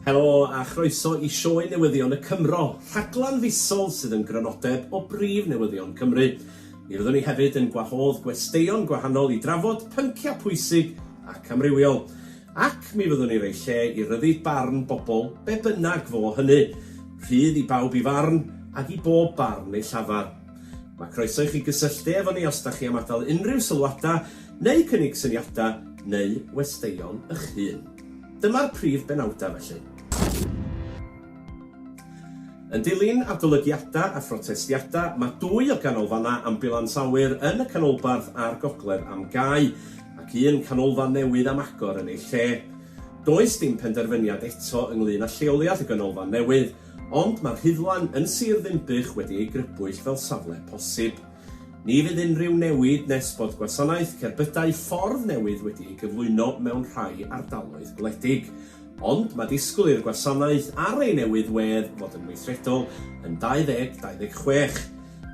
Helo a chroeso i Sioe Newyddion y Cymro, rhaglen fisol sydd yn grynodeb o brif newyddion Cymru. Mi fyddwn ni hefyd yn gwahodd gwesteion gwahanol i drafod pynciau pwysig ac amrywiol. Ac mi fyddwn ni roi lle i ryddu barn bobl, be bynnag fo hynny. Rhydd i bawb i farn, ac i bob barn ei llafar. Mae croeso i chi gysylltu efo ni os da chi am adael unrhyw sylwadau neu cynnig syniadau neu westeion y'ch hun. Dyma'r prif benawdau felly. Yn dilyn adolygiadau a phrotestiadau, mae dwy o ganolfannau ambiwlans awyr yn y canolbarth a'r gogledd am gau, ac un canolfan newydd am agor yn ei lle. Does dim penderfyniad eto ynglŷn â lleoliad y ganolfan newydd, ond mae'r Rhuddlan yn Sir Ddinbych wedi ei grybwyll fel safle posib. Ni fydd unrhyw newid nes bod gwasanaeth cerbydau ffordd newydd wedi ei gyflwyno mewn rhai ardaloedd gwledig. Ond mae disgwyl i'r gwasanaeth ar ei newydd wedd fod yn weithredol yn 2026,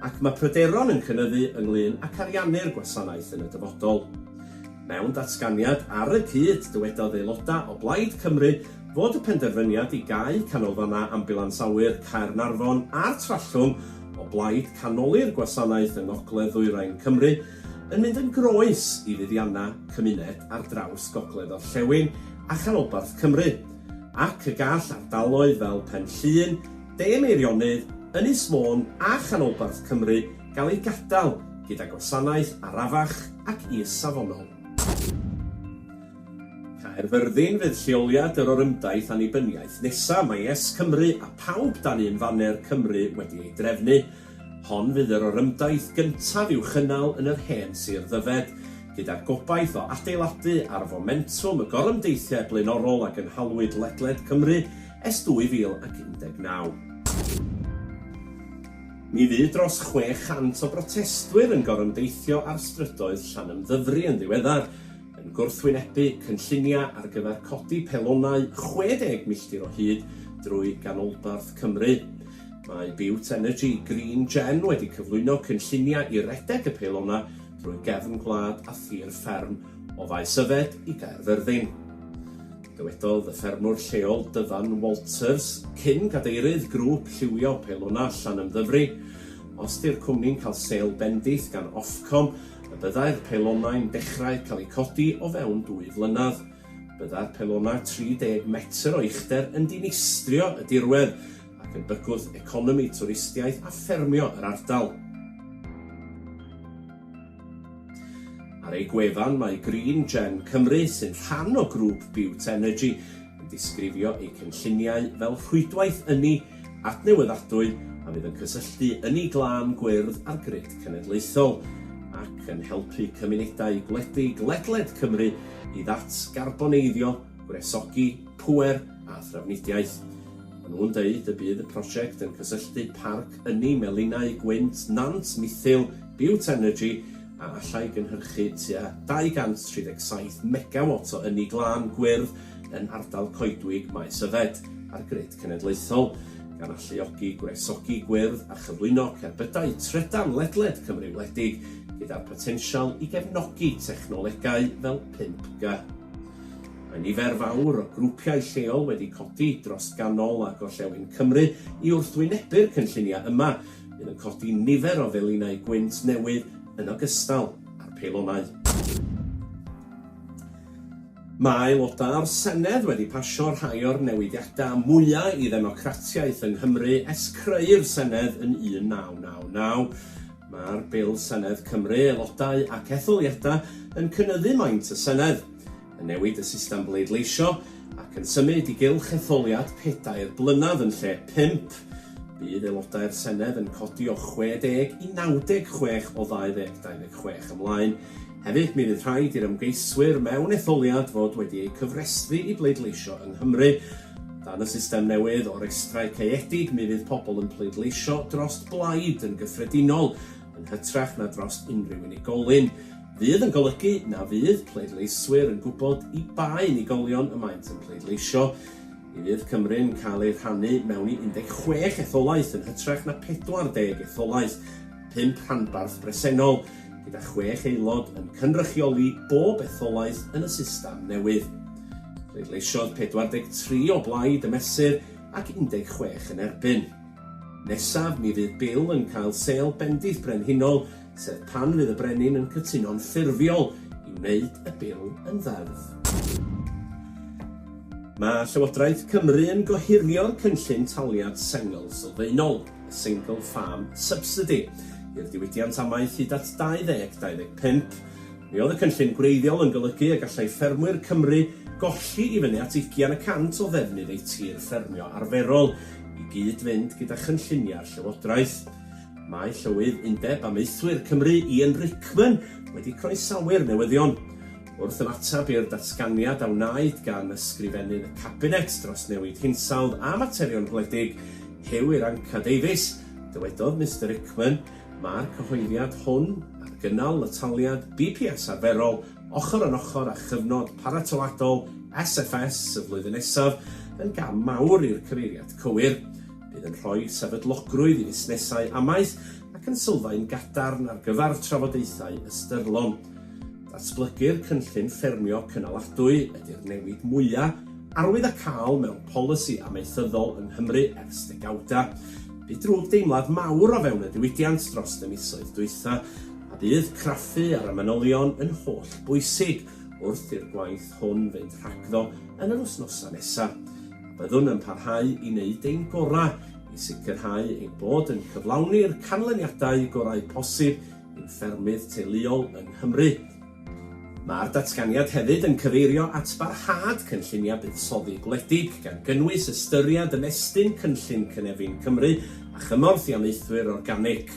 ac mae pryderon yn cynyddu ynglŷn ac ariannu'r gwasanaeth yn y dyfodol. Mewn datganiad ar y cyd, dywedodd aelodau o Blaid Cymru fod y penderfyniad i gau canolfannau Ambiwlans Awyr Caernarfon a'r Trallwng o blaid canoli'r gwasanaeth yng ngogledd-ddwyrain Cymru yn mynd yn groes i fuddiannau cymuned ar draws gogledd-orllewin a chanolbarth Cymru ac y gall ardaloedd fel Pen Llŷn, De Meirionnydd, Ynys Môn a chanolbarth Cymru gael eu gadael gyda gwasanaeth arafach ac is-safonol. Caerfyrddin fydd lleoliad yr orymdaith annibyniaeth nesaf, mae YesCymru a Pawb dan un faner Cymru wedi ei drefnu. Hon fydd yr orymdaith gyntaf i'w chynnal yn yr hen sir Ddyfed, gyda'r gobaith o adeiladu ar fomentwm y gorymdeithiau blaenorol a gynhalwyd ledled Cymru es 2019. Mi fu dros 600 o brotestwyr yn gorymdeithio ar strydoedd Llanymddyfri yn ddiweddar, yn gwrthwynebu cynlluniau ar gyfer codi pelonau 60 milltir o hyd drwy ganolbarth Cymru. Mae Bute Energy Green Gen wedi cyflwyno cynlluniau i redeg y pelonau drwy gefn gwlad a thir fferm o Faes Yfed i Gaerfyrddin. Dywedodd y ffermwr lleol Dyfan Walters, cyn cadeirydd grŵp lliwio pelona Llanymddyfri, Os 'di'r cwmni'n cael sêl bendith gan Ofcom, y byddai'r pelonau'n dechrau cael eu codi o fewn dwy flynedd. Byddai'r pelonau 30 metr o uchder yn dinistrio y dirwedd ac yn bygwth economi twristiaeth a ffermio yr ardal. Ar ei gwefan mae Green Gen Cymru, sy'n rhan o grŵp Bute Energy, yn disgrifio eu cynlluniau fel rhwydwaith ynni adnewyddadwy a fydd yn cysylltu ynni glân gwyrdd â'r grid cenedlaethol ac yn helpu cymunedau gwledig ledled Cymru i ddatgarboneiddio, gwresogi pŵer a thrafnidiaeth. Maen nhw'n dweud y bydd y prosiect yn cysylltu Parc Ynni Melinau Gwynt Nant Mithil Biotenergy a allai gynhyrchu tua 237 megawat o ynni glân gwyrdd yn ardal coedwig Maes Yfed a'r grid cenedlaethol, gan alluogi gwresogi gwyrdd a chyflwyno cerbydau trydan ledled Cymru wledig, gyda'r potensial i gefnogi technolegau fel 5G. Mae nifer fawr o grwpiau lleol wedi codi dros ganol a gorllewin Cymru i wrthwynebu'r cynlluniau yma, Bydd yn codi nifer o felinau gwynt newydd yn ogystal â'r peilonau. Mae aelodau o'r Senedd wedi pasio rhai o'r newidiadau mwyaf i ddemocratiaeth yng Nghymru ers creu'r Senedd yn 1999. Mae'r Bil Senedd Cymru, Aelodau ac Etholiadau yn cynyddu maint y Senedd. yn newid y system bleidleisio ac yn symud i gylch etholiad pedair blynedd yn lle pump, bydd aelodau'r Senedd yn codi o 60 i 96 o 2,026 ymlaen. Hefyd, mi fydd rhaid i'r ymgeiswyr mewn etholiad fod wedi eu cyfrestru i bleidleisio yng Nghymru. Dan y system newydd o restrau caeedig, mi fydd pobl yn pleidleisio dros blaid yn gyffredinol, yn hytrach na dros unrhyw unigolyn, fydd yn golygu na fydd pleidleiswyr yn gwybod i ba unigolion y maent yn pleidleisio. Mi fydd Cymru'n cael ei rhannu mewn i 16 etholaeth yn hytrach na 40 etholaeth, pump rhanbarth bresennol, gyda chwech aelod yn cynrychioli bob etholaeth yn y system newydd. Pleidleisiodd 43 o blaid y mesur ac 16 yn erbyn. Nesaf, mi fydd Bill yn cael sêl bendith brenhinol, sef pan fydd y brenin yn cytuno'n ffurfiol i wneud y Bil yn ddeddf. Mae Llywodraeth Cymru yn gohirio'r cynllun taliad sengl sylfaenol, y Single Farm Subsidy, i'r diwydiant amaeth hyd at 2025. Mi oedd y cynllun gwreiddiol yn golygu y gallai ffermwyr Cymru golli i fyny at ugian y cant o ddefnydd eu tir ffermio arferol i gyd-fynd gyda chynlluniau'r Llywodraeth. Mae Llywydd Undeb Amaethwyr Cymru, Ian Rickman, wedi croesawu'r newyddion. Wrth ymateb i'r datganiad a wnaed gan Ysgrifennydd y Cabinet dros Newid Hinsawdd a Materion Gwledig, Huw Irranca-Davies, dywedodd Mister Rickman, Mae'r cyhoeddiad hwn ar gynnal y taliad BPS arferol ochr yn ochr â chyfnod paratoadol SFS y flwyddyn nesaf yn gam mawr i'r cyfeiriad cywir. Bydd yn rhoi sefydlogrwydd i fusnesau amaeth ac yn sylfaen gadarn ar gyfer trafodaethau ystyrlon. Datblygu'r Cynllun Ffermio Cynaladwy ydy'r newid mwya' arwydd a cael mewn polisi amaethyddol yng Nghymru ers degawda. Bu drwg deimlad mawr o fewn y diwydiant dros y misoedd dwytha, a bydd craffu ar y manylion yn holl bwysig wrth i'r gwaith hwn fynd rhagddo yn yr wsnosa' nesa', a byddwn yn parhau i neud ein gora' i sicrhau ein bod yn cyflawni'r canlyniadau gorau posib ein ffermydd teuluol yng Nghymru. Mae'r datganiad hefyd yn cyfeirio at barhad cynlluniau buddsoddi gwledig, gan gynnwys ystyried ymestyn Cynllun Cynefin Cymru a chymorth i amaethwyr organig.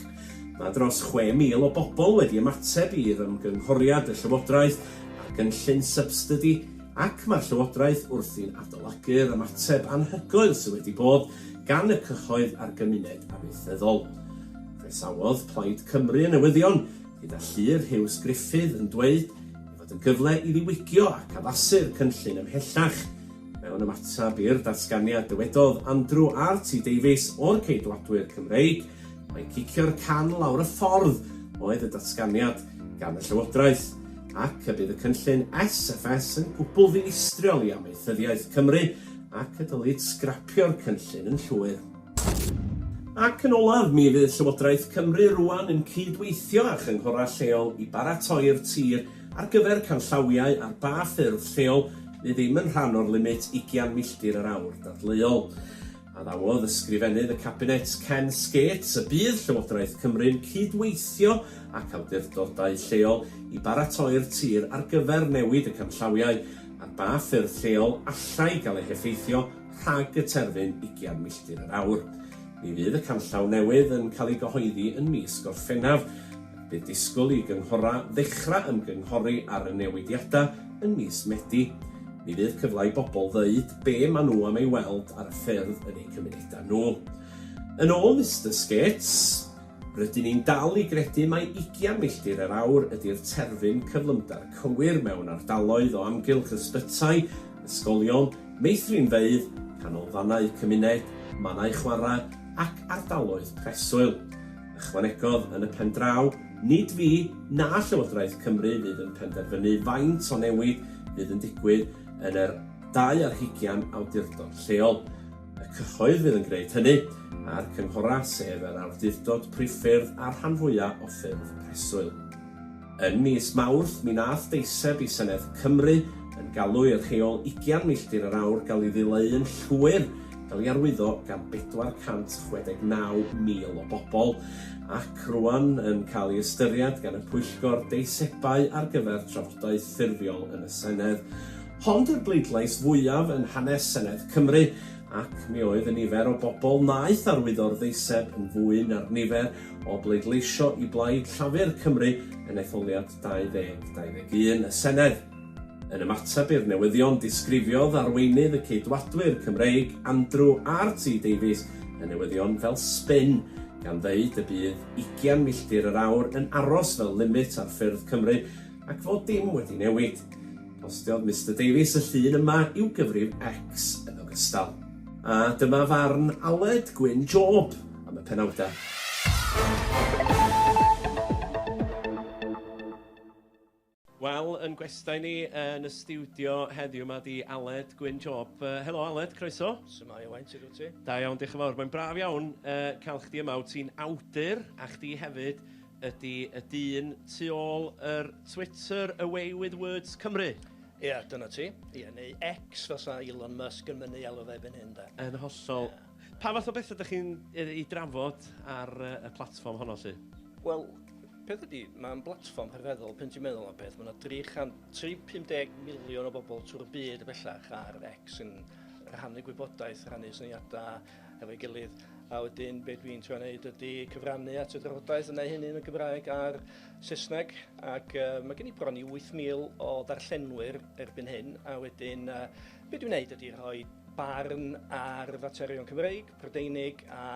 Mae dros 6,000 o bobl wedi ymateb i ymgynghoriad y Llywodraeth ar gynllun sybsidy ac mae'r Llywodraeth wrthi'n adolygu'r ymateb anhygoel sydd wedi bod gan y cyhoedd a'r gymuned amaethyddol. Croesawodd Plaid Cymru y newyddion, gyda Llyr Huws Gruffydd yn dweud ei fod yn gyfle i ddiwygio ac addasu'r cynllun ymhellach. Mewn ymateb i'r datganiad dywedodd Andrew RT Davies o'r Ceidwadwyr Cymreig mai cicio'r can lawr y ffordd oedd y datganiad gan y Llywodraeth ac y bydd y cynllun SFS yn gwbl ddinistriol i amaethyddiaeth Cymru ac y dylid sgrapio'r cynllun yn llwyr. Ac yn olaf, mi fydd Llywodraeth Cymru rŵan yn cyd-weithio â chynghorau lleol i baratoi'r tir ar gyfer canllawiau ar ba ffyrdd lleol fydd ddim yn rhan o'r limit ugian milltir yr awr dadleuol. Addawodd Ysgrifennydd y Cabinet, Ken Skates, y bydd Llywodraeth Cymru'n cyd-weithio ac awdurdodau lleol i baratoi'r tir ar gyfer newid y canllawiau ar ba ffyrdd lleol allai gael ei heffeithio rhag y terfyn ugian milltir yr awr. Mi fydd y canllaw newydd yn cael ei gyhoeddi yn mis Gorffennaf. Bydd disgwyl i gynghorau ddechrau ymgynghori ar y newidiadau yn mis Medi. Mi fydd cyfle i bobl ddeud be maen nhw am ei weld ar y ffyrdd yn eu cymunedau nhw. Yn ôl Mister Skates, Rydyn ni'n dal i gredu mai ugian milltir yr awr ydy'r terfyn cyflymder cywir mewn ardaloedd o amgylch ysbytai, ysgolion, meithrinfeydd, canolfannau cymuned, mannau chwarae ac ardaloedd preswyl. Ychwanegodd, Yn y pen draw, nid fi na Llywodraeth Cymru fydd yn penderfynu faint o newid fydd yn digwydd yn yr dau ar hugian awdurdod lleol. Y cyhoedd fydd yn gwneud hynny, a'r cynghorau sef yr awdurdod priffyrdd a'r rhan fwyaf o ffyrdd preswyl. Yn mis Mawrth, mi wnaeth deiseb i Senedd Cymru yn galw i'r rheol ugian milltir yr awr gael ei ddileu'n llwyr, gael ei arwyddo gan 469,000 o bobl, ac rŵan yn cael ei ystyried gan y pwyllgor deisebau ar gyfer trafodaeth ffurfiol yn y Senedd. Hon yw'r bleidlais fwyaf yn hanes Senedd Cymru, ac mi oedd y nifer o bobl wnaeth arwyddo'r ddeiseb yn fwy na'r nifer o bleidleisio i blaid Llafur Cymru yn etholiad 2021 y Senedd. Yn ymateb i'r newyddion disgrifiodd arweinydd y Ceidwadwyr Cymreig, Andrew RT Davies, y newyddion fel sbin, gan ddeud y bydd ugian milltir yr awr yn aros fel limit ar ffyrdd Cymru ac fod dim wedi newid. Postiodd Mister Davies y llun yma i'w gyfrif X yn ogystal. A dyma farn Aled Gwyn Job am y penawdau. Wel, yn gwestai ni yn y stiwdio heddiw, mae 'di Aled Gwyn Job. Yy, helo Aled, croeso. Shwmae Owain, shwt wyt ti? Da iawn, diolch yn fawr. Mae'n braf iawn yy cael chdi yma. Wyt ti'n awdur a chdi hefyd Ydy y dyn tu ôl yr Twitter away with words Cymru? Ia, dyna ti. Ia, neu X fel sa Elon Musk yn mynnu alw fe erbyn hyn 'de. Yn hollol. Ia. Pa fath o betha dych chi'n yy 'u drafod ar yy y platfform honno 'lly? Wel, peth ydi, mae'n blatfform rhyfeddol, pan ti'n meddwl am y peth, mae 'na 350 miliwn o bobl trwy'r byd bellach ar X yn rhannu gwybodaeth, rhannu syniadau, efo'i gilydd. A wedyn be dwi'n trio wneud ydy cyfrannu at y drafodaeth yna hynny yn y Gymraeg a'r Saesneg ac uh, mae gen i bron i 8,000 o ddarllenwyr erbyn hyn a wedyn uh, be dwi'n wneud ydy rhoi barn ar faterion Cymreig, Prydeinig a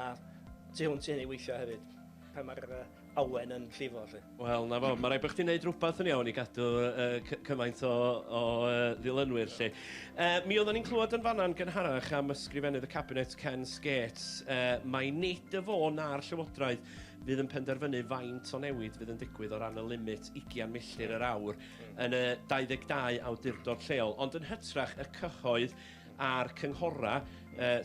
tu hwnt i hynny weithiau hefyd. Pan mae'r uh, awen yn llifo 'lly. Wel, 'na fo. Ma' raid bo' chdi'n neud rwbath yn iawn i gadw yy cy- cymaint o o yy ddilynwyr 'lly. Yy, mi oeddan ni'n clywed yn fan'na yn gynharach am Ysgrifennydd y Cabinet, Ken Skates, yy, mai nid y fo na'r Llywodraeth fydd yn penderfynu faint o newid fydd yn digwydd o ran y limit ugian milltir yr awr yn y 22 awdurdod lleol, ond yn hytrach y cyhoedd, a'r cynghorau,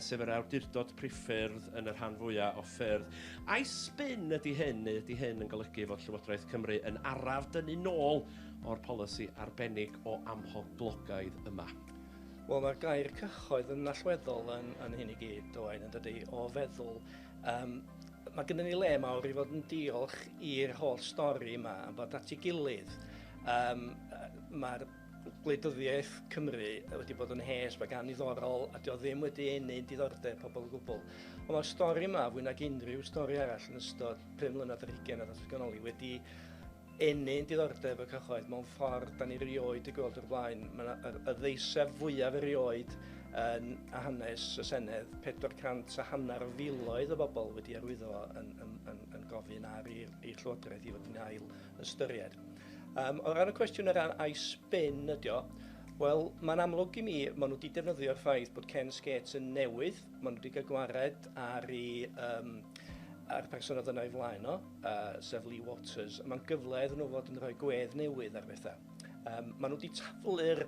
sef yr awdurdod priffyrdd yn y rhan fwyaf o ffyrdd. Ai sbin ydy hyn, neu ydy hyn yn golygu fod Llywodraeth Cymru yn araf dynnu nôl o'r polisi arbennig o amhoblogaidd yma? Wel, mae'r gair cyhoedd yn allweddol yn, yn hyn i gyd, Owain, yn dydy, o feddwl. Um, mae gennym ni le mawr i fod yn diolch i'r holl stori yma, yn bod at ei gilydd. Um, Mae'r Gwleidyddiaeth Cymru wedi bod yn hes, mae gan ddiddorol, a dio ddim wedi enyn diddordeb pobl o gwbl. Ond mae'r stori yma, fwy nag unrhyw stori arall yn ystod pum mlynedd yr hugen a ddatganoli, wedi enyn diddordeb y cyhoedd mewn ffordd da ni rioed i gweld o'r blaen. Mae yna y, y ddeiseb fwyaf erioed yn a hanes y Senedd, 400 a hanner o filoedd o bobl wedi arwyddo yn, yn, yn, yn gofyn ar i'r Llywodraeth i fod yn ail ystyried. Um, o ran y cwestiwn ar ran I spin ydy o, wel, mae'n amlwg i mi, maen nhw wedi defnyddio'r ffaith bod Ken Skates yn newydd, maen nhw wedi cael gwared ar ei, um, a'r person oedd yna i flaen o, uh, sef Lee Waters, a mae'n gyfle iddyn nhw fod yn rhoi gwedd newydd ar bethau. Um, maen nhw wedi taflu'r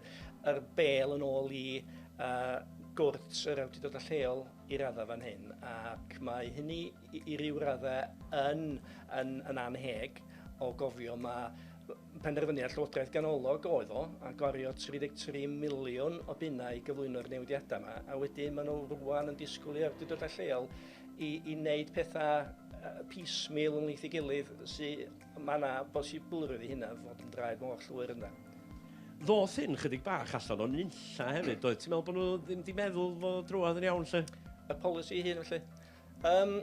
er bel yn ôl i uh, gwrt yr awdurdodau lleol i raddau fan hyn, ac mae hynny i ryw raddau yn, yn, yn annheg o gofio mae penderfyniad Llywodraeth ganolog oedd o, a gwario 33 miliwn o bunnau i gyflwyno'r newidiadau yma, a wedyn maen nhw rwan yn disgwyl i'r awdurdodau lleol i, i wneud pethau piecemeal yn leith i gilydd sydd mae yna bosiblrwydd i hynna fod yn draed mor llwyr yna. Ddoth hyn chydig bach allan o'n nunlla hefyd, doedd? Ti'n meddwl bod nhw ddim wedi meddwl fod drwodd yn iawn lle? Y polisi hyn felly? Um,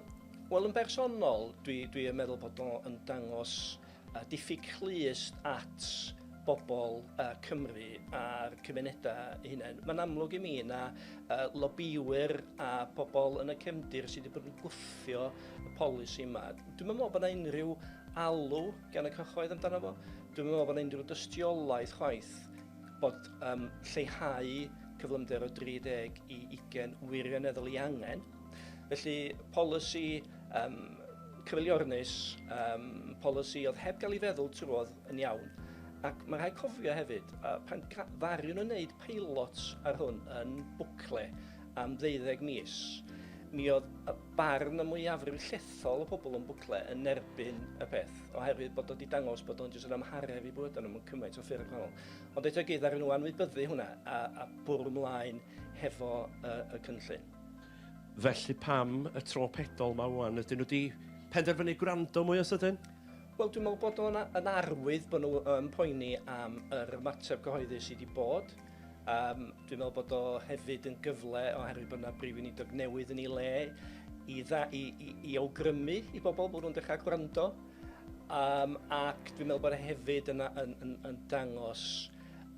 Wel, yn bersonol, dwi, dwi yn meddwl bod o'n dangos uh, diffyg clust at bobl uh, Cymru a'r cymunedau eu hunain. Mae'n amlwg i mi na uh, lobbywyr a pobl yn y cefndir sydd wedi bod yn gwthio y polisi yma. Dwi'n meddwl bod yna unrhyw alw gan y cyhoedd amdano fo. Dwi'n meddwl bod yna unrhyw dystiolaeth chwaith bod um, lleihau cyflymder o 30 i 20 wirioneddol i angen Felly, polisi um, cyfeiliornus, um, polisi oedd heb gael ei feddwl trwodd yn iawn. Ac mae rhaid cofio hefyd, uh, pan ddariwn yn wneud peilot ar hwn yn bwcle am ddeuddeg mis, mi oedd y barn y mwyafrif llethol o bobl yn bwcle yn erbyn y peth, oherwydd bod o wedi dangos bod o'n jyst yn amharef i bwyd nhw'n cymaint o ffyrdd gwahanol. Ond eto gyd ar nhw anwybyddu hwnna a, a bwrw mlaen hefo uh, y cynllun. Felly pam y tro pedol ma ŵan? Ydyn nhw wedi penderfynu gwrando mwy o sydyn? Wel, dwi'n meddwl bod nhw'n yn arwydd bod nhw yn poeni am yr ymateb cyhoeddi sydd wedi bod. Um, dwi'n meddwl bod o hefyd yn gyfle oherwydd bod yna brif unidog newydd yn ei le i, dda, i, i, i awgrymu i bobl bod nhw'n dechrau gwrando. Um, ac dwi'n meddwl bod e hefyd yn, yn, yn, yn dangos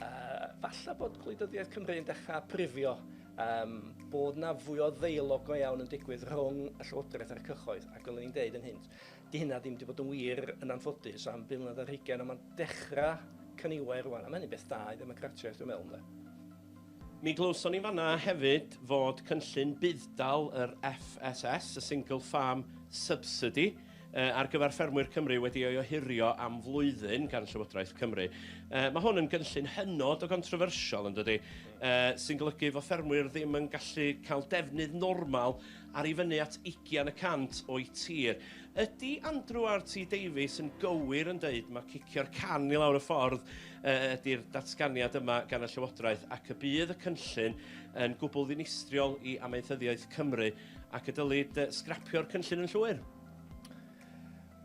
uh, falle bod gwleidyddiaeth Cymru yn dechrau prifio Yym, bod 'na fwy o ddeialog go iawn yn digwydd rhwng y Llywodraeth a'r cyhoedd, ac fel o'n i'n deud yn hyn, 'di hynna ddim 'di bod yn wir, yn anffodus, am bum mlynedd ar hugain, ond ma'n dechra cyniwair rŵan, a ma' hynny'n beth da i ddemocratiaeth, dwi'n meddwl, ynde. Mi glywson ni fan'na hefyd fod cynllun budd-dal yr FSS, y Single Farm Subsidy, ar gyfer Ffermwyr Cymru wedi ei ohirio am flwyddyn gan Llywodraeth Cymru. Uh, mae hwn yn gynllun hynod o gontrofyrsiol yn dydy, uh, sy'n golygu fod ffermwyr ddim yn gallu cael defnydd normal ar i fyny at 20 y cant o'i tir. Ydy Andrew RT Davies yn gywir yn dweud mae cicio'r can i lawr y ffordd uh, ydy'r datganiad yma gan y Llywodraeth ac y bydd y cynllun yn gwbl ddinistriol i amaethyddiaeth Cymru Ac y dylid sgrapio'r cynllun yn llwyr?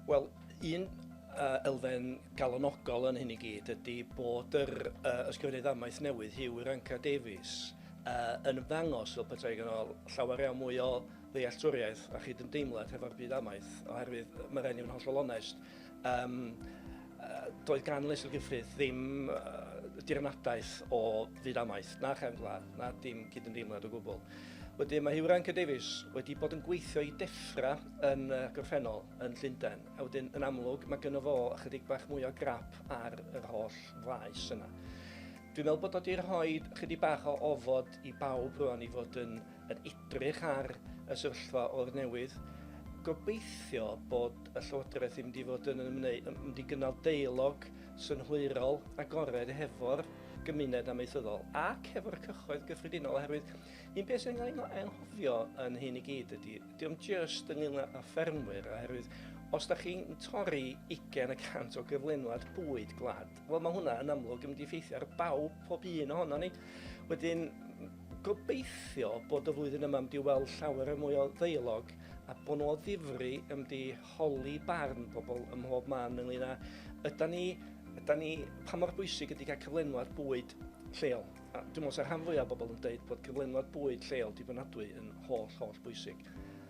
Wel, un uh, elfen galonogol yn hyn i gyd ydy bod yr uh, ysgrifennydd amaeth newydd, Hugh Iranka Davies, uh, yn ymddangos fel petai gan ôl llawer iawn mwy o ddealltwriaeth a chyd-ymdeimlad hefo'r byd amaeth, oherwydd mae rhaid i fod yn hollol onest, Um, doedd gan Leisel Gyffrith ddim uh, dirnadaeth o fyd amaeth, na chefn gwlad, na dim cydymdeimlad o gwbl. Wedyn mae Hugh Rankin Davies wedi bod yn gweithio i deffra yn uh, gorffennol yn Llundain, a wedyn yn amlwg mae gynno fo ychydig bach mwy o grap ar yr holl faes yna. Dwi'n meddwl bod o wedi rhoi chydig bach o ofod i bawb rwan i fod yn yn edrych ar y sefyllfa o'r newydd. Gobeithio bod y Llywodraeth yn mynd i fod yn ymwneud, yn mynd i gynnal deilog synhwyrol agored hefo'r gymuned amaethyddol ac hefo'r cychoedd gyffredinol oherwydd un peth sy'n cael ei anghofio yn hyn i gyd ydy, diolch just ynglyn â ffermwyr oherwydd os da chi'n torri 20 y cant o gyflenwad bwyd gwlad, Wel, mae hwnna yn amlwg yn mynd i effeithio ar bawb, pob un ohono ni. Wedyn, gobeithio bod y flwyddyn yma wedi weld llawer mwy o ddeialog a bod nhw o ddifri yn wedi holi barn pobl ym mhob man ynglyn â yda ni, yda ni, pa mor bwysig ydy cael cyflenwad bwyd lleol. A dwi'n meddwl sa'r rhan fwyaf o bobl yn dweud bod cyflenwad bwyd lleol dibynadwy yn holl, holl bwysig.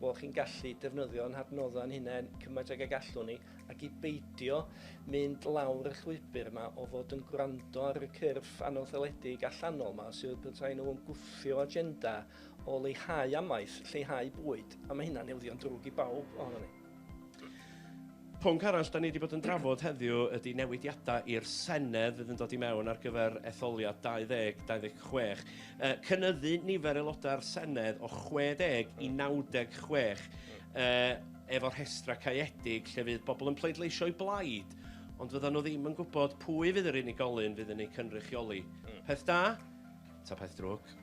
bod chi'n gallu defnyddio ein hadnoddau ein hunain cymaint ag y gallwn ni, ac i beidio mynd lawr y llwybr yma o fod yn gwrando ar y cyrff anawddeledig allanol yma sydd petai nhw yn gwthio agenda o leihau amaeth, lleihau bwyd, a mae hynna'n ildio yn drwg i bawb ohonon ni. Pwnc arall dan ni wedi bod yn drafod heddiw ydy newidiadau i'r Senedd fydd yn dod i mewn ar gyfer etholiad 2026. Yy cynyddu nifer aelodau'r Senedd o 60 i 96 yy efo rhestrau caeedig lle fydd bobl yn pleidleisio'u blaid ond fyddan nhw ddim yn gwybod pwy fydd yr unigolyn fydd yn eu cynrychioli. Peth da? Ta peth drwg?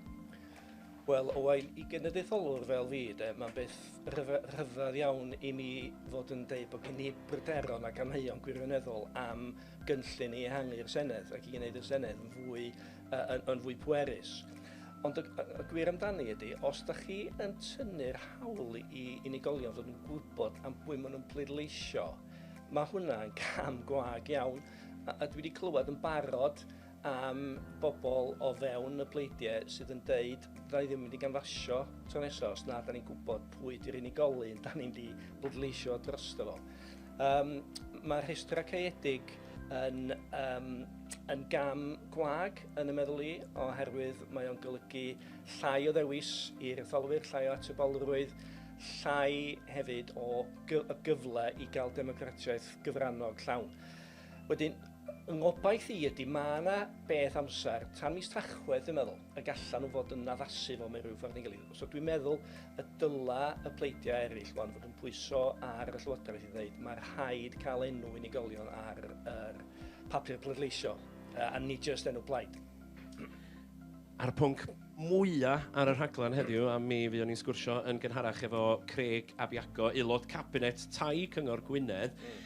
Wel, o wael i genedlaetholwr fel fi, de, mae'n beth rhyfedd iawn i mi fod yn dweud bod gen i bryderon ac amheuon gwirioneddol am gynllun i ehangu'r Senedd ac i wneud y Senedd yn fwy, uh, yn, yn fwy pwerus. Ond y, y gwir amdani ydy, os da chi yn tynnu'r hawl i unigolion fod yn gwybod am bwy maen nhw'n pleidleisio, mae hwnna'n cam gwag iawn. A, a dwi wedi clywed yn barod am bobl o fewn y pleidiau sydd yn deud da ni ddim yn mynd i ganfasio tro nesaf os na da ni'n gwybod pwy di'r unigolyn da ni'n di bleidleisio drosto fo. Um, mae rhestr acaedig yn, um, yn gam gwag yn y meddwl i oherwydd mae o'n golygu llai o ddewis i'r etholwyr, llai o atebolrwydd, llai hefyd o gyfle i gael democratiaeth gyfrannog llawn. Wedyn, yng ngobaith i ydy, mae yna beth amser, tan mis Tachwedd dwi'n meddwl, y gallan nhw fod yn addasu fo mewn rhyw ffordd neu gilydd. So dwi'n meddwl y dyla y pleidiau eraill wan fod yn pwyso ar y Llywodraeth i ddweud mae rhaid cael enw unigolion ar yr papur pleidleisio, uh, a nid jyst enw plaid. A'r pwnc mwyaf ar y rhaglen heddiw, a mi fuon ni'n sgwrsio yn gynharach efo Craig Abiago, aelod cabinet tai Cyngor Gwynedd, mm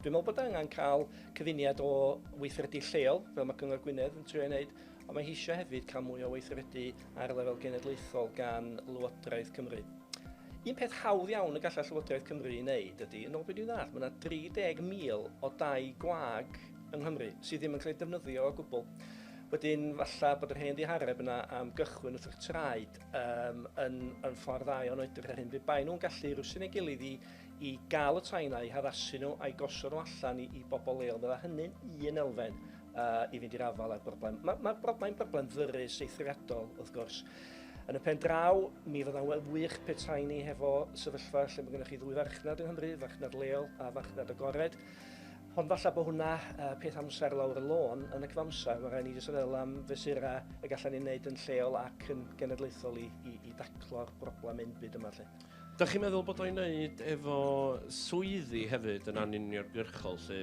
Dwi'n meddwl bod angen cael cyfuniad o weithredu lleol, fel mae Cyngor Gwynedd yn trio ei wneud, ond mae hi eisiau hefyd cael mwy o weithredu ar lefel genedlaethol gan Lywodraeth Cymru. Un peth hawdd iawn y gallai Llywodraeth Cymru ei wneud ydy, yn ôl beth dwi'n ddall, mae yna 30,000 o dai gwag yng Nghymru sydd ddim yn cael eu defnyddio o gwbl. Wedyn, falle bod yr hen ddihareb yna am gychwyn wrth yr traed um, yn, yn ffordd dda iawn o edrych ar hyn. Fe bai nhw'n gallu rwsyn ei gilydd i i gael y tai 'na, i haddasu nhw a'i gosod nhw allan i, i bobl leol. Mae hynny'n un elfen uh, i fynd i'r afael â'r broblem. Mae ma broblem, broblem ddyrus eithriadol, wrth gwrs. Yn y pen draw, mi fydda'n wel wych pe tai ni hefo sefyllfa lle mae gennych chi ddwy farchnad yng Nghymru, farchnad leol a farchnad agored. Ond falle bod hwnna uh, peth amser lawr y lôn yn y cyfamser. Mae rhaid ni jyst feddwl am fesurau y gallan ni'n wneud yn lleol ac yn genedlaethol i, i, i daclo'r broblem ein byd yma. Lle. Dach chi'n meddwl bod o'i wneud efo swyddi hefyd yn anuniongyrchol 'lly?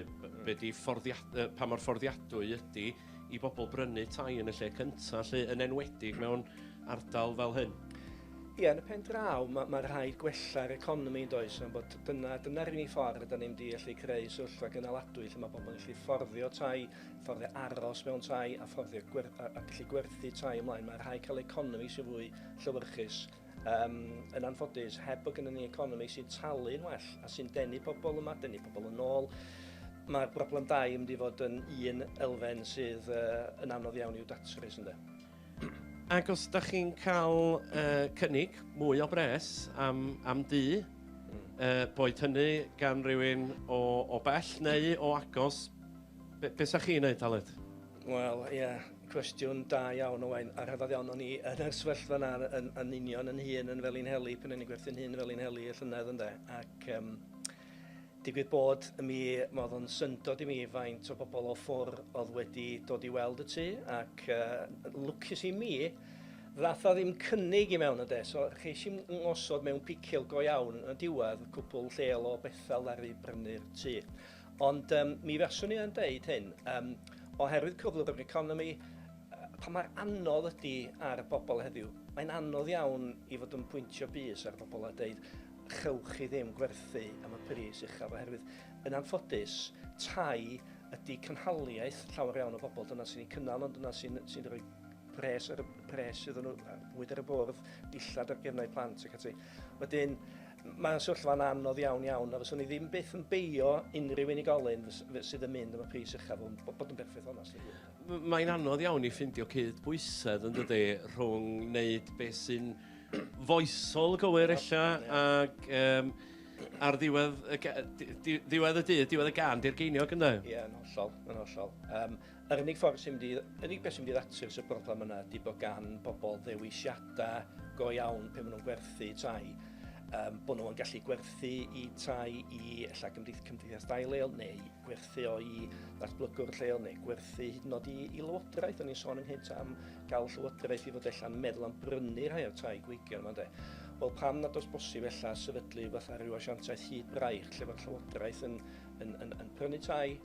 Be' 'di fforddiad- yy pa mor fforddiadwy ydi i bobl brynu tai yn y lle cynta 'lly, yn enwedig mewn ardal fel hyn? Ie, yn y pen draw ma' ma' rhaid gwella'r economi yndoes? Am bod dyna dyna'r unig ffordd rydan ni mynd i allu creu sefyllfa gynaladwy lle ma' pobl yn gallu fforddio tai, fforddio aros mewn tai a fforddio gwer- a a gallu gwerthu tai ymlaen. Ma' rhaid cael economi sy'n fwy llewyrchus. Um, yn anffodus, heb bod gennym ni economi sy'n talu'n well a sy'n denu pobl yma, denu pobl yn ôl, mae'r broblem dau yn mynd i fod yn un elfen sydd uh, yn anodd iawn i'w datrys ynddo. Ac os da chi'n cael uh, cynnig mwy o bres am, am du, uh, boed hynny gan rywun o, o bell neu o agos, be, be sa chi'n neud, Aled? Wel, ie, yeah. Cwestiwn da iawn, Owain, a rhyfedd iawn. O'n i yn yr sefyllfa 'na yn, yn union yn hun yn Felinheli, pan o'n i'n gwerthu'n hun yn Felinheli y llynedd ynde, ac um, digwydd bod mi, mae oedd o'n syndod i mi faint o bobl o ffwr oedd wedi dod i weld y tŷ, ac uh, lwcus i mi, ddath o ddim cynnig i mewn ynde, so cheis i'n ngosod mewn picil go iawn yn y diwedd, cwpl lleol o Bethel ddaru brynu'r tŷ. Ond um, mi faswn i yn deud hyn, um, oherwydd cyflwr yr economi, pa mae'r anodd ydy ar bobl heddiw, mae'n anodd iawn i fod yn pwyntio bus ar bobl a dweud chewch chi ddim gwerthu am y pris uchaf oherwydd yn anffodus tai ydy cynhaliaeth llawer iawn o bobl dyna sy'n ei cynnal ond dyna sy'n sy rhoi pres ar y pres iddyn nhw fwyd ar y bwrdd dillad ar gefnau plant ac ati wedyn Mae'n sefyllfa'n anodd iawn iawn a fyswn i ddim byth yn beio unrhyw unigolyn sydd yn mynd am y pris uchaf hwn, bod yn berffaith onest. Mae'n anodd iawn i ffindio cyd bwysedd yn dydy rhwng wneud beth sy'n foesol gywir ella ac um, ar ddiwedd y, diwedd y dydd, diwedd y gan, di'r geiniog ynddo? Ie, yn hollol, yn hollol. Um, Yr unig ffordd sy'n mynd i... yr unig beth sy'n mynd i ddatrys y broblem yna ydy bod gan bobl ddewisiadau go iawn pe maen nhw'n gwerthu tai. Um, bod nhw'n gallu gwerthu i tai i ella gymdeith, cymdeithas dai leol neu gwerthu o i ddatblygwr lleol neu gwerthu hyd yn oed i, i lywodraeth. O'n i'n sôn ynghyd am gael llywodraeth i fod allan meddwl am brynu rhai o'r tai gweigion yma de. Wel pam nad oes bosib ella sefydlu fatha rhyw asiantaeth hyd braich lle mae'r llywodraeth yn, yn, yn, yn prynu tai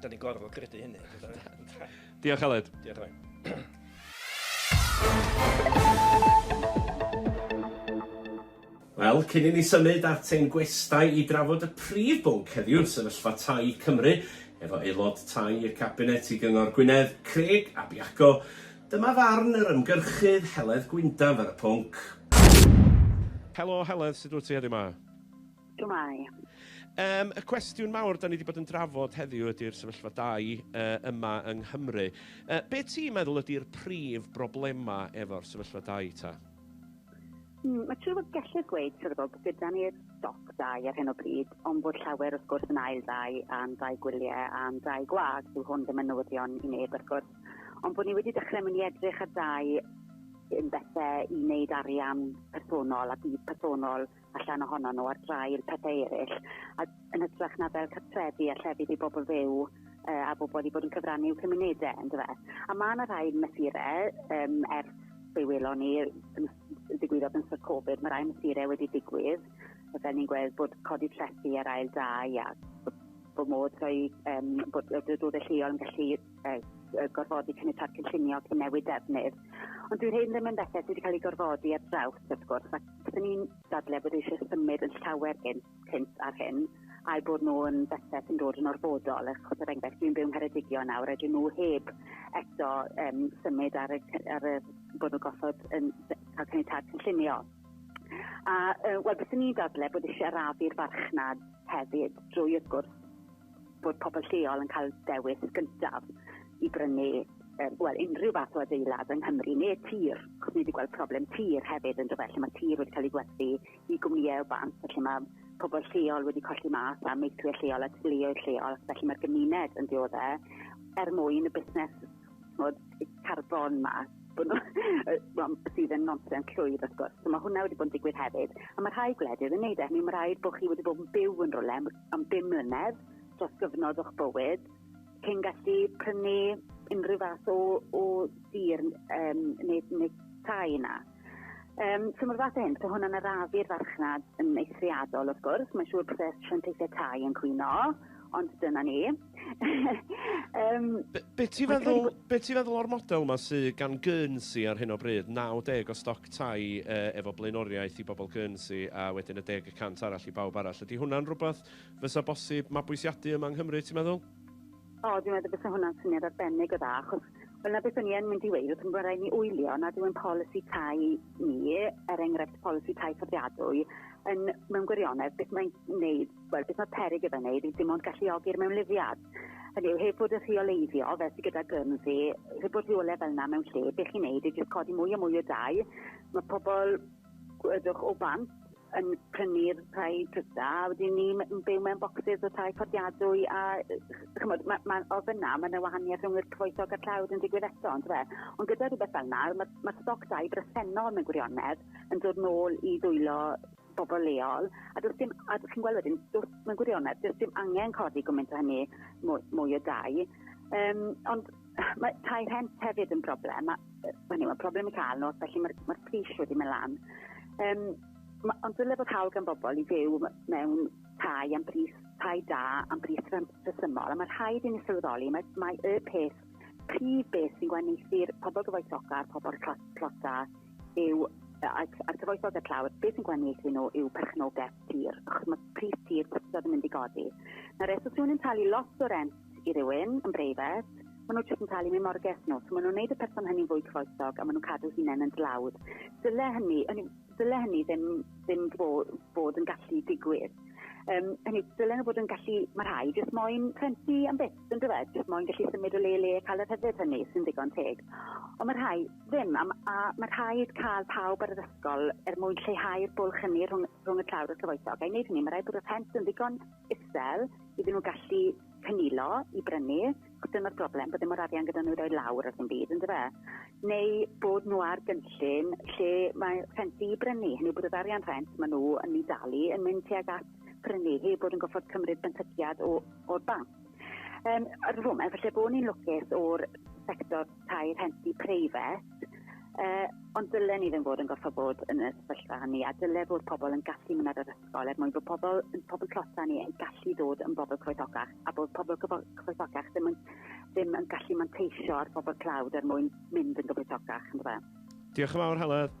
Da ni gorfod credu hynny. Diolch, Aled. Diolch, Aled. Wel, cyn i ni symud at ein gwestai i drafod y prif bwnc heddiw, sefyllfa tai Cymru, efo aelod tai y Cabinet i Gyngor Gwynedd, Craig Abiaco, dyma farn yr ymgyrchydd Heledd Gwyndaf ar y pwnc. Helo Heledd, sut wyt ti heddiw ma? Shwmae. Yym, y cwestiwn mawr da ni wedi bod yn drafod heddiw ydy'r sefyllfa dai uh, yma yng Nghymru. Uh, be ti'n meddwl ydy'r prif broblemau efo'r sefyllfa dai ta? Mm, mae trwy fod gellir gweud trwy bod gyda ni'r stoc dau ar hyn o bryd, ond bod llawer wrth gwrs yn ail dau a'n dau gwyliau a'n dau gwag, dyw hwn ddim yn newyddion i neb wrth gwrs, ond bod ni wedi dechrau mynd i edrych ar dau yn bethau i wneud arian personol a bydd personol allan ohono nhw ar drai'r pethau eraill, a yn hytrach na fel cartrefi a llefydd i bobl fyw uh, a bobl i bod yn cyfrannu i'w cymunedau, yn dweud. A mae yna rhai mesurau um, ers fe welon ni ddigwyddodd yn sort Covid, mae rhai mesurau wedi digwydd, fel ni'n gweld bod codi trethi ar ail dau a bod modd rhoi, um, bod y dod y lleol yn gallu gorfodi caniatad cynllunio ac newid defnydd. Ond dwi'n hyn ddim yn bethau sydd wedi cael ei gorfodi ar draws, wrth gwrs, ac dyn ni'n dadle bod eisiau symud yn llawer gynt, cynt ar hyn, a'i bod nhw yn bethau sy'n dod yn orfodol, achos er enghraifft, dwi'n byw yn Ngheredigion nawr, a dyn nhw heb eto um, symud ar y, ar y bod nhw'n gosod yn cael caniatad cynllunio. A, uh, wel, beth ni'n dadle bod eisiau arafu'r farchnad hefyd drwy, wrth gwrs, bod pobl lleol yn cael dewis gyntaf i brynu um, well, unrhyw fath o adeilad yng Nghymru, neu tir, chos ni wedi gweld problem tir hefyd yn dyfa, lle mae tir wedi cael ei gwerthu i gwmnïau o bant, felly mae pobl lleol wedi colli mas a meithwyr lleol a teuluoedd lleol, felly mae'r gymuned yn dioddau er mwyn y busnes bod carbon ma bod nhw, well, sydd yn nonsen llwyr wrth gwrs. So mae hwnna wedi bod yn digwydd hefyd. A mae rhai gwledydd yn neud e, hynny mae rhaid bod chi wedi bod yn byw yn rhywle am am bum mlynedd dros gyfnod o'ch bywyd cyn gallu prynu unrhyw fath o, o dir um, neu, neu tai yna. Um, so mae'r fath o hyn, so hwnna'n arafu'r farchnad yn eithriadol wrth gwrs, mae'n siŵr bod y sianteithiau tai yn cwyno, ond dyna ni. um, be, be ti feddwl, be ti feddwl o'r model yma sydd gan Guernsey ar hyn o bryd, 90 o stoc tai uh, efo blaenoriaeth i bobl Guernsey a wedyn y deg y cant arall i bawb arall. Ydy hwnna'n rhywbeth fysa bosib mabwysiadu yma yng Nghymru, ti'n meddwl? O, dwi'n meddwl bys hwnna'n syniad arbennig o dda, achos Wel, na beth o'n i yn mynd i weid, wrth ymwneud rhaid ni wylio nad yw'n polisi tai ni, er enghraifft polisi tai fforddiadwy, yn mewn gwirionedd beth mae'n wneud Wel, beth mae peryg gyda'i wneud yw dim ond galluogi'r mewnlifiad. Hynny yw, heb fod yn rheoleiddio, fel sydd gyda Guernsey, heb bod rheolau fel yna mewn lle, be chi'n wneud yw jyst codi mwy a mwy o dau. Mae pobl, gwedwch, o bant yn prynu'r rhai dryda, a wedyn ni'n byw mewn bocsys o tai fforddiadwy, a chymod, ma, ma, o fyna mae yna wahaniaeth rhwng yr cyfoethog a'r tlawd yn digwydd eto, ond fe. Ond gyda rhywbeth fel yna, mae, ma stoc dau bresennol mewn gwirionedd yn dod nôl i ddwylo bobl leol, a does dim, a chi'n gweld wedyn, does, mae'n gwirionedd, does dim angen codi gwmynt o hynny mwy, mwy o dau. Um, ond mae tai rhent hefyd yn broblem, a, hynny, mae problem i cael nos, felly mae'r mae pris wedi mynd lan. Um, ma, ond dyle bod hawl gan bobl i fyw mewn tai am bris tai da am bris rhesymol, a mae rhaid i ni sylweddoli, mae, mae y peth prif beth sy'n gwahaniaethu'r pobl gyfoethoca a'r pobl tlota yw a'r cyfoethog y tlawd, beth sy'n gwahaniaethu nhw yw perchnogaeth tir, achos mae pris tir wastad yn mynd i godi. Nawr, eto, os yw'n talu lot o rent i rywun yn breifat, maen nhw'n jyst yn talu mewn morges nhw. So maen nhw'n gwneud y person hynny'n fwy cyfoethog a maen nhw'n cadw hunain yn dlawd. Dyle hynny, dyle hynny ddim, ddim bod, bod yn gallu digwydd. Um, hynny, dyle nhw bod yn gallu, mae rhai jyst moyn rhentu am beth. Yn dywed, mae'n gallu symud o le le a cael y rhyddid hynny, sy'n ddigon teg. Ond mae rhai ddim, a, a mae rhaid cael pawb ar yr ysgol er mwyn lleihau'r bwlch hynny rhwng, rhwng y tlawd a'r cyfoethog. A i wneud hynny, mae rhaid bod y rhent yn ddigon isel iddyn nhw gallu cynilo i brynu, achos dyna'r broblem, bod ddim o'r arian gyda nhw i roi lawr ar ddim byd, yn dyfa? Neu bod nhw ar gynllun lle mae rhenti i brynu, hynny bod yr arian rhent maen nhw yn ei dalu yn mynd tuag at prynu heb bod yn goffod cymryd benthyciad o'r banc. Um, ar y foment, felly bod ni'n lwcus o'r sector tai rhenti preifat, uh, ond dylen ni ddim bod yn goffo bod yn y sefyllfa hynny, a dyle fod pobl yn gallu mynd ar yr ysgol er mwyn bod pobl, pobl closa ni yn gallu dod yn bobl croesogach, a bod pobl croesogach ddim yn, ddim yn gallu manteisio ar bobl clawd er mwyn mynd yn gyfoethocach. Diolch yn fawr, Helen.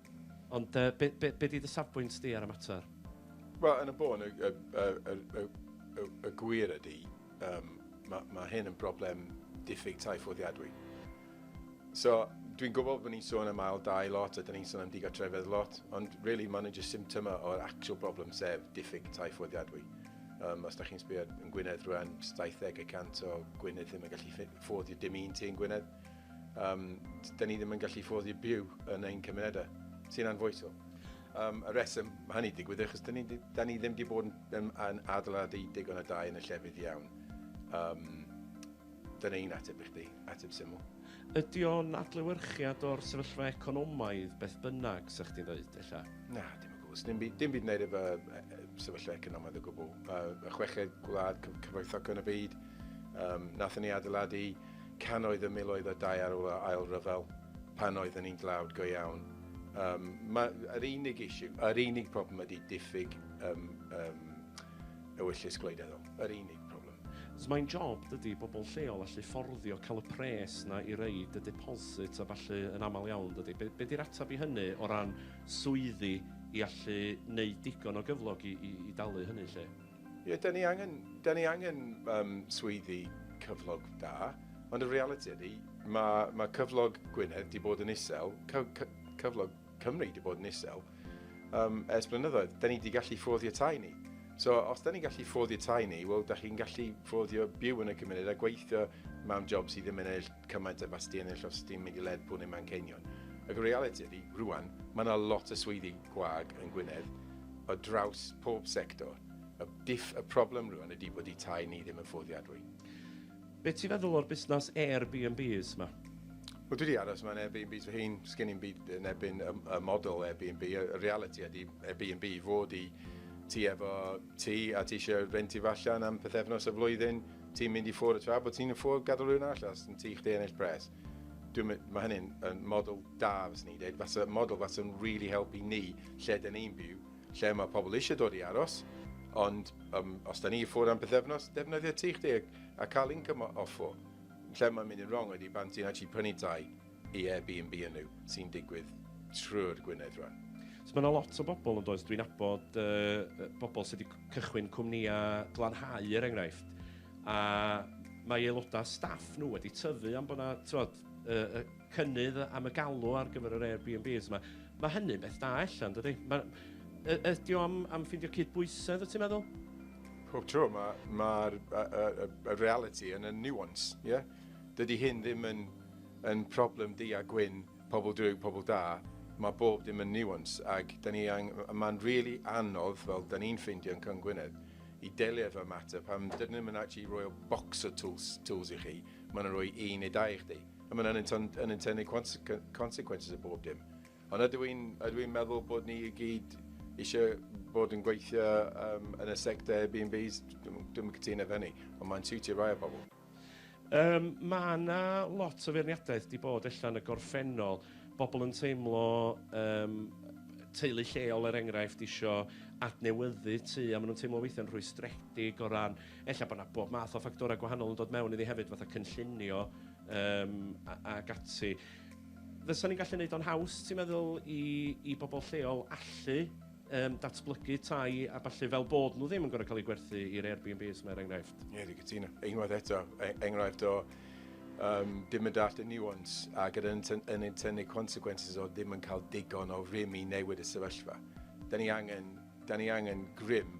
Ond yy, be, be, be di dy safbwynt di ar y mater? Wel, yn y bôn, y, y, y, y, y, y gwir ydy, um, mae ma hyn yn broblem diffyg tai ffoddiadwy. So, dwi'n gwybod bod ni'n sôn am ail dau lot a dyn ni'n sôn am digartrefedd lot, ond really maen nhw'n just symptoma o'r actual problem sef diffyg tai ffoddiadwy. Um, os da chi'n sbio yn Gwynedd rwan, 70 y cant o Gwynedd ddim yn gallu ffoddio dim un ti yn Gwynedd. Um, da ni ddim yn gallu ffoddi byw yn ein cymunedau, sy'n anfoesol. Um, y reswm mae hynny digwydd, achos da ni, da ni ddim wedi bod yn, yn adeiladu digon o dau yn y llefydd iawn. Um, Dyna un ateb i chdi, ateb syml. Ydy o'n adlewyrchiad o'r sefyllfa economaidd beth bynnag, sa chdi'n dweud, ella? Na, dim o gwrs. Dim, dim byd wneud efo sefyllfa economaidd o gwbl. Mae y chweched gwlad cyfoethog yn y byd. Um, nath ni adeiladu cannoedd y miloedd o dai ar ôl yr Ail Ryfel, pan oedden ni'n dlawd go iawn. Um, mae yr unig issue, yr unig problem ydy diffyg um, um, ewyllys gwleidyddol. Yr unig problem. So mae'n job dydy bobl lleol allu fforddio cael y pres na i reid y deposit a falle yn aml iawn dydy. Be, be di'r atab i hynny o ran swyddi i allu wneud digon o gyflog i, i, i dalu hynny lle? Ie, dan ni angen, dan ni angen um, swyddi cyflog da, ond y realiti ydy, mae, mae cyflog Gwynedd di bod yn isel, cy, cy, cyflog Cymru di bod yn isel, um, ers blynyddoedd. Da ni di gallu ffoddio tai ni. So, os da ni'n gallu ffoddio tai ni, wel, da chi'n gallu ffoddio byw yn y cymuned a gweithio mewn job sydd ddim yn eich cymaint a basti ennill os ti'n mynd i Lerpwl neu Manceinion. Ac y realiti ydy, rwan, mae yna lot o swyddi gwag yn Gwynedd o draws pob sector. Y, diff, y problem rwan ydy bod i tai ni ddim yn ffoddiadwy. Be ti'n feddwl o'r busnes Airbnbs yma? Wel, dwi wedi aros mewn Airbnbs fy hun, sgen i'n byd yn ebyn y, y model Airbnb. Y realiti ydy Airbnb fod i ti efo ti a ti eisiau renti fallan am pethefnos y flwyddyn, Ti'n mynd i ffwrdd tra bod ti'n yn ffwrdd gadael rhywun arall os ti'n ti chdi ennill pres. Dwi'n mynd, mae hynny'n yn model da fyswn i'n dweud, fasa model fasa'n really helpu ni lle da ni'n byw, lle mae pobl eisiau dod i aros, ond um, os da ni i ffwrdd am bythefnos, defnyddio ti chdi a, a cael income o, offo. Lle mae'n mynd yn wrong ydy pan ti'n actually prynu tai i Airbnb yn yw sy'n digwydd trwy'r Gwynedd rwan. So mae yna lot o bobl yn does, dwi'n abod uh, bobl sydd wedi cychwyn cwmnïau glanhau er enghraifft, a mae aelodau staff nhw wedi tyfu am bod yna, tywod, uh, cynnydd am y galw ar gyfer yr Airbnbs yma. Mae hynny'n beth da allan, dydy? Ydy o am, am ffindio cydbwysedd, wyt ti'n meddwl? Pob tro, mae'r ma, ma y, y, y, y reality yn y nuance, ie? Yeah? Dydy hyn ddim yn Yn problem du a gwyn, pobl drwg, pobl da, mae bob dim yn nuance ac da ni ang-... mae'n rili anodd, fel da ni'n ffeindio yn Cwm Gwynedd, i delio efo'r mater pan dydyn nhw'm yn actually roi o bocs o tools tools i chi, mae nhw'n rhoi un neu dau i chdi, a mae'n unintend- unintended consequ- consequences o bob dim. Ond ydw i'n ydw i'n meddwl bod ni i gyd isio bod yn gweithio yym yn y sector Airbnbs? Dwi'm dwi'm yn cytuno efo hynny, ond mae'n siwtio rai o bobl. Yym, ma' 'na lot o feirniadaeth 'di bod ella yn y gorffennol, bobl yn teimlo yym teulu lleol er enghraifft isio adnewyddu tŷ a ma' nhw'n teimlo weithiau'n rhwystredig o ran ella bod 'na bob math o ffactorau gwahanol yn dod mewn iddi hefyd fatha cynllunio yym a ac ati. Fysan ni'n gallu neud o'n haws ti'n meddwl i i bobl lleol allu um, datblygu tai a falle fel bod nhw ddim yn gorau cael eu gwerthu i'r Airbnbs mae'r er enghraifft. Ie, yeah, dwi'n cytuno. Unwaith eto, e, enghraifft o um, dim yn dall y nuance a gyda yn ein tynnu consequences o ddim yn cael digon o rym i newid y sefyllfa. Da ni angen, da ni angen grym,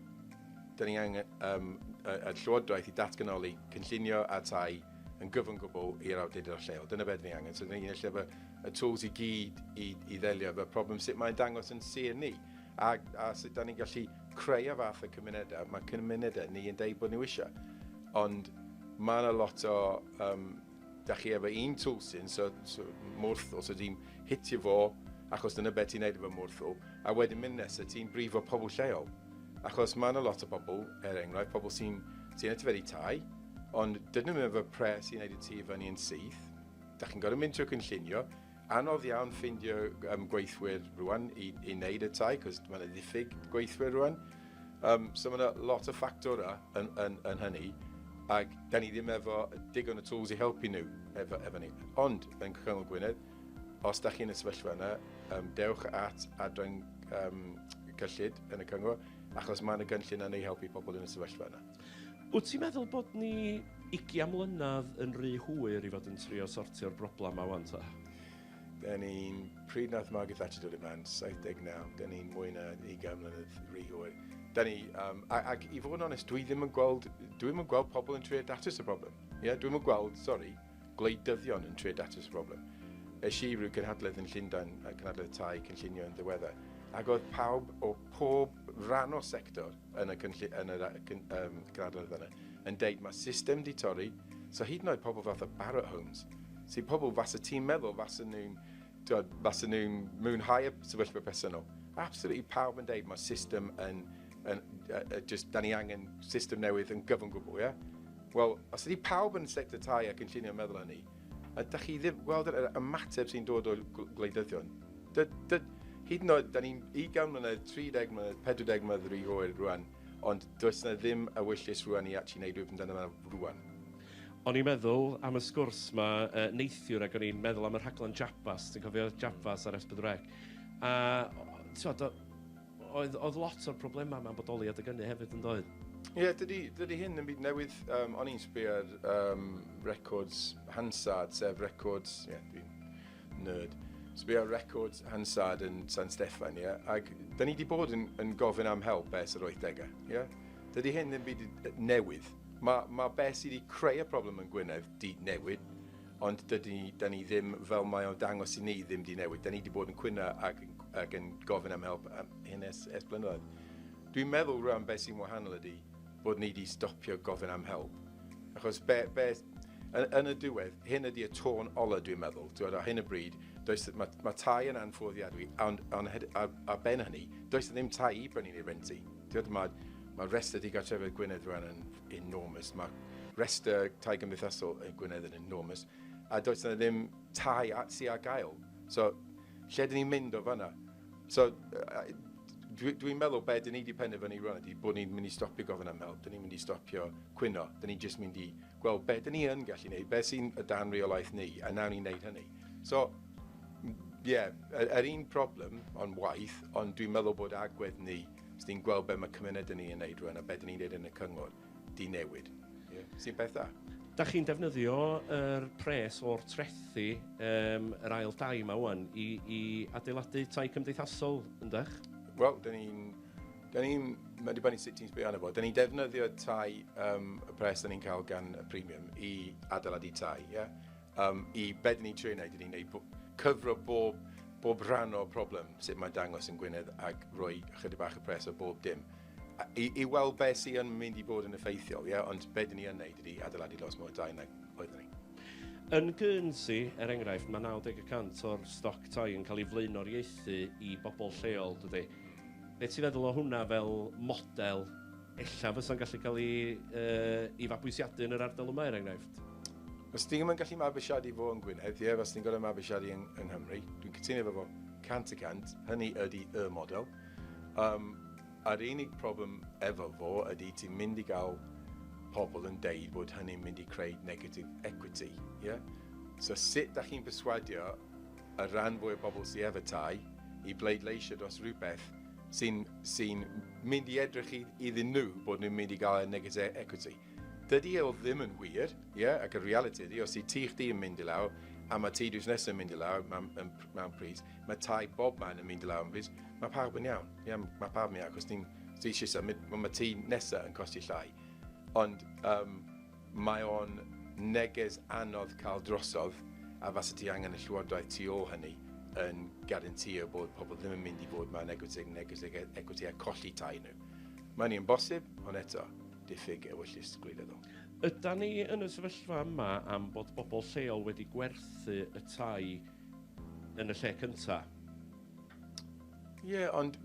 da ni angen um, y, y llywodraeth i datganoli cynllunio a tai yn gyfan gwbl i'r awdurdod lleol. Dyna beth ni angen. So, da ni'n lle y tools i gyd i, i ddelio efo'r problem, sut mae'n dangos yn sir ni, a, a sut da ni'n gallu creu a fath y cymunedau, mae cymunedau ni yn deud bod nhw eisiau. Ond mae yna lot o, um, da chi efo un tool sy'n, so, so mwrth, os ydy'n hitio fo, achos dyna beth ti'n neud efo mwrth o, a wedyn mynd nesaf ti'n brifo pobl lleol. Achos mae yna lot o bobl, er enghraifft, pobl sy'n sy, sy yn y tyferi tai, ond dydyn nhw efo pres i wneud y tu fyny yn syth, Dach chi'n gorfod mynd trwy cynllunio, anodd iawn ffeindio um, gweithwyr rwan i, i wneud y tai, cos mae'n ddiffyg gweithwyr rwan. Um, so mae'n lot o ffactorau yn, yn, yn hynny, ac da ni ddim efo digon o tools i helpu nhw efo, efo ni. Ond yn Cyngor Gwynedd, os da chi'n y sefyllfa yna, um, dewch at adran um, cyllid yn y cyngor, achos mae yna gynllun yn ei helpu pobl yn y sefyllfa yna. Wyt ti'n meddwl bod ni ugian mlynedd yn rhy hwyr i fod yn trio sortio'r broblem 'ma 'wan ta? Da ni'n... Pryd nath Margaret Thatcher dod i flan? 79. Da ni'n mwy na ugain mlynedd rhy hwyr. Da ni... Um, ac i fod yn onest, dwi ddim yn gweld... Dwi'm yn gweld pobl yn trio datrys y broblem. Ie, yeah? dwi'm yn gweld, sori, gwleidyddion yn trio datrys y broblem. Es i rhyw gynhadledd yn Llundain, cynhadledd tai cynllunio yn ddiweddar, ac oedd pawb o pob rhan o sector yn y, cynllun, yn y cyn, um, cynhadledd yna yn deud mae system di torri, so hyd yn oed pobl fath o Barratt Homes, sy'n pobl fas y ti'n meddwl fas y nhw'n fas y nhw'n mwynhau y sefyllfa personol. Absolutely pawb yn deud mae system yn, yn uh, uh, just, da ni angen system newydd yn gyfan gwbl, ie? Yeah? Wel, os ydy pawb yn y sector tai a cynllunio yn meddwl hynny, ydych chi ddim yn gweld yr ymateb sy'n dod o'r gwleidyddion? Dy, dy, hyd yn oed, da ni'n 20 mlynedd, 30 mlynedd, 40 mlynedd rhy hwyr rwan, ond does yna ddim ewyllys rwan i actually wneud rhywbeth amdano fe rwan. O'n i'n meddwl am y sgwrs ma uh, neithiwr ac o'n i'n meddwl am y rhaglen Jabas, ti'n cofio Jabas ar S4C? A, ti'n Oedd, oedd lot o'r problemau yma'n bodoli adeg ynny hefyd yn doedd? Ie, yeah, dydy, dydy hyn yn byd newydd. Um, o'n i'n sbio ar um, records Hansard, sef records... Ie, yeah, dwi'n nerd. Sbio ar records Hansard yn San Steffan, ie? Yeah? Ac da ni wedi bod yn, yn gofyn am help ers yr 80au, ie? Yeah? Dydy hyn yn byd newydd. Mae ma be sydd wedi creu y problem yn Gwynedd di newid, ond dydy, da ni ddim, fel mae o'n dangos i ni, ddim di newid. Da ni wedi bod yn cwyno ac, ac yn gofyn am help am hyn es, es blynyddoedd. Dwi'n meddwl rhan beth sy'n wahanol ydy bod ni wedi stopio gofyn am help. Achos be, be, yn, yn y diwedd, hyn ydy y tôn ola dwi'n meddwl. Dwi'n meddwl, hyn y bryd, does, mae, mae tai yn anffoddiadwy, ond on, ar, ar ben hynny, does ddim tai i brynu neu renti. Dwi'n meddwl, mae, mae rest ydy gartrefedd Gwynedd rhan yn, enormous. Mae rhestr tai gymdeithasol yn Gwynedd yn enormous, a does yna ddim tai at si ar gael. So, lle dyn ni'n mynd o fanna? So, dwi'n dwi meddwl be dyn ni wedi penderfynu rwan ydy bod ni'n mynd i stopio gofyn am help, dyn ni'n mynd i stopio cwyno, dyn ni'n just mynd i gweld be dyn ni yn gallu gwneud, be sy'n y dan reolaeth ni, a nawn ni'n gwneud hynny. So, ie, yeah, yr un problem, ond waith, ond dwi'n meddwl bod agwedd ni Os ti'n gweld beth mae cymuned yn ei wneud rwan a beth ni'n neud yn y cyngor, di newid. Ie. Sy'n peth da. Da chi'n defnyddio yr pres o'r trethi um, yr ail dai yma wan i, i adeiladu tai cymdeithasol, yndych? Wel, da ni'n... Da ni'n... Mae'n dibynnu sut ti'n sbio arno fo. Da ni'n defnyddio tai um, y pres da ni'n cael gan y premium i adeiladu tai, ie? Yeah? Um, I be dyn ni'n trio wneud, dyn ni'n gwneud cyfro bob, bob rhan o'r problem, sut mae'n dangos yn Gwynedd, ac roi chydig bach y pres o bob dim. I, i weld beth sy'n mynd i bod yn effeithiol, ie? Yeah? ond be dyn ni'n wneud ydy adeiladu lot mwy o dau nag oeddwn ni. Yn Guernsey, er enghraifft, mae 90% o'r stoc tai yn cael ei flaenoriaethu i bobl lleol, dydy. Beth ti'n feddwl o hwnna fel model Ella fysa'n gallu cael ei yy ei fabwysiadu yn yr ardal yma, er enghraifft. Os ti ddim yn gallu mabwysiadu fo yn Gwynedd, ie, fyswn i'n gorfod mabwysiadu yn, yng Nghymru. Dwi'n cytuno efo fo cant y cant. Hynny ydy y model. Um, a'r unig problem efo fo ydy ti'n mynd i gael pobl yn deud bod hynny'n mynd i creu negative equity. Yeah? So sut da chi'n perswadio y rhan fwy o bobl sydd efo tai i bleidleisio dros rhywbeth sy'n sy mynd i edrych iddyn nhw bod nhw'n mynd i gael y negative equity. Dydy e o ddim yn wir, yeah? ac y reality ydy, os i ti chdi yn mynd i lawr, a mae ti drws nesaf yn mynd i lawr mewn, mewn pris, mae tai bob man yn mynd i lawr yn pris, mae pawb yn iawn, yeah? mae pawb yn iawn, achos ti'n ti eisiau symud, mae ti nesaf yn costi llai. Ond um, Mae o'n neges anodd cael drosodd a fase ti angen y llywodraeth tu ôl hynny yn garantio bod pobl ddim yn mynd i fod mewn equity negative equity a colli tai nhw. Mae hynny yn bosib, ond eto, diffyg ewyllys gwleidyddol. Ydan ni yn y sefyllfa yma am bod bobl lleol wedi gwerthu y tai yn y lle cynta? Ie, yeah, ond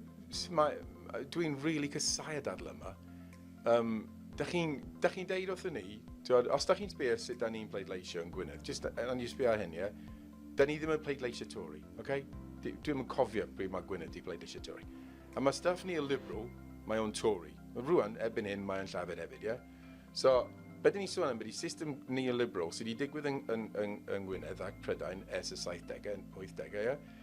dwi'n really casau y dadl yma. Um, da chi'n chi deud wrth ni, dweud, os da chi'n sbio sut da ni'n pleidleisio yn Gwynedd, just, and you sbio hyn, ie, yeah? da ni ddim yn pleidleisio Tory, oce? Okay? Dwi'n yn cofio pryd mae Gwynedd di pleidleisio Tory. A mae staff ni y Liberal, mae o'n Tory. Rwan, ebyn hyn, mae'n llafed hefyd, ie? Yeah? So, beth ni'n sôn am ydy system neoliberal sydd wedi digwydd yn, yn, yn, yn Gwynedd ac Prydain ers y 70au, 80au, ie? Yeah?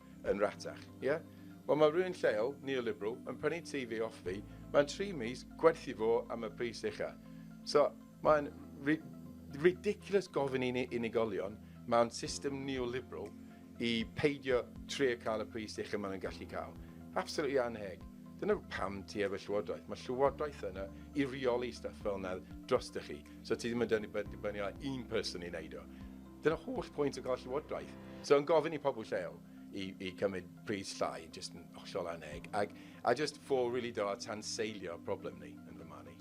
yn ratach, ie? Wel mae rhywun lleol, neoliberal, yn prynu tŷ fi off fi, mae'n tri mis, gwerthu fo am y pris ucha. So, mae'n ri- ridiculous gofyn i ni unigolion mewn system neoliberal i peidio trio cael y pris ucha maen nhw'n gallu cael. Absolutely anheg. Dyna pam ti efo llywodraeth. Mae llywodraeth yna i reoli stuff fel yna dros chi. So ti ddim yn dynnu dibynnu ar un person i wneud o. Dyna holl pwynt y gorff llywodraeth. So yn gofyn i pobl lleol i, i cymryd pris llai, jyst yn hollol aneg, ac, a jyst ffôl rili really da tanseilio problem ni, yn fy marn i.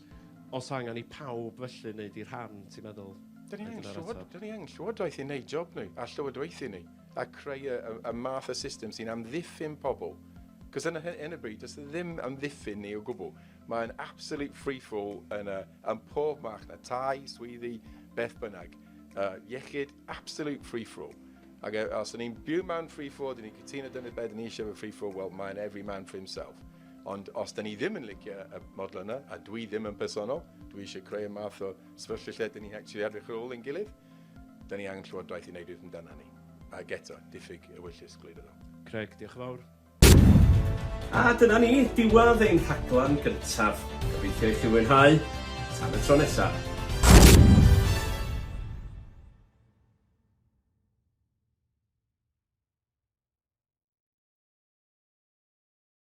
Os angen i pawb felly wneud i rhan, ti'n meddwl? Dyn ni angen, llywod, dyn ni angen llywodraeth i wneud job ni, a llywodraethu ni, a creu y, y, y math o system sy'n amddiffyn pobl. Cos yn y bryd, does e ddim amddiffyn ni o gwbl. Mae'n absolute free-fall yn, y, yn pob march na tai, swyddi, beth bynnag. Yy, iechyd, absolute free for all. Ac e, os 'yn ni'n byw mewn free for all, 'dyn ni'n cytuno dyna be' 'dyn ni isie efo free for all, wel mae'n every man for himself. Ond os 'dyn ni ddim yn licio y model yna, a dwi ddim yn personol, dwi isie creu y math o sefyllfa lle 'dyn ni'n actually edrych ar ôl ein gilydd, 'dyn ni angen Llywodraeth i neud rhywbeth amdana ni. Ac eto, diffyg ewyllys gwleidyddol. Craig, diolch yn fawr. A dyna ni, diwedd ein rhaglen gyntaf. Gobeithio i chi fwynhau. Tan y tro nesaf.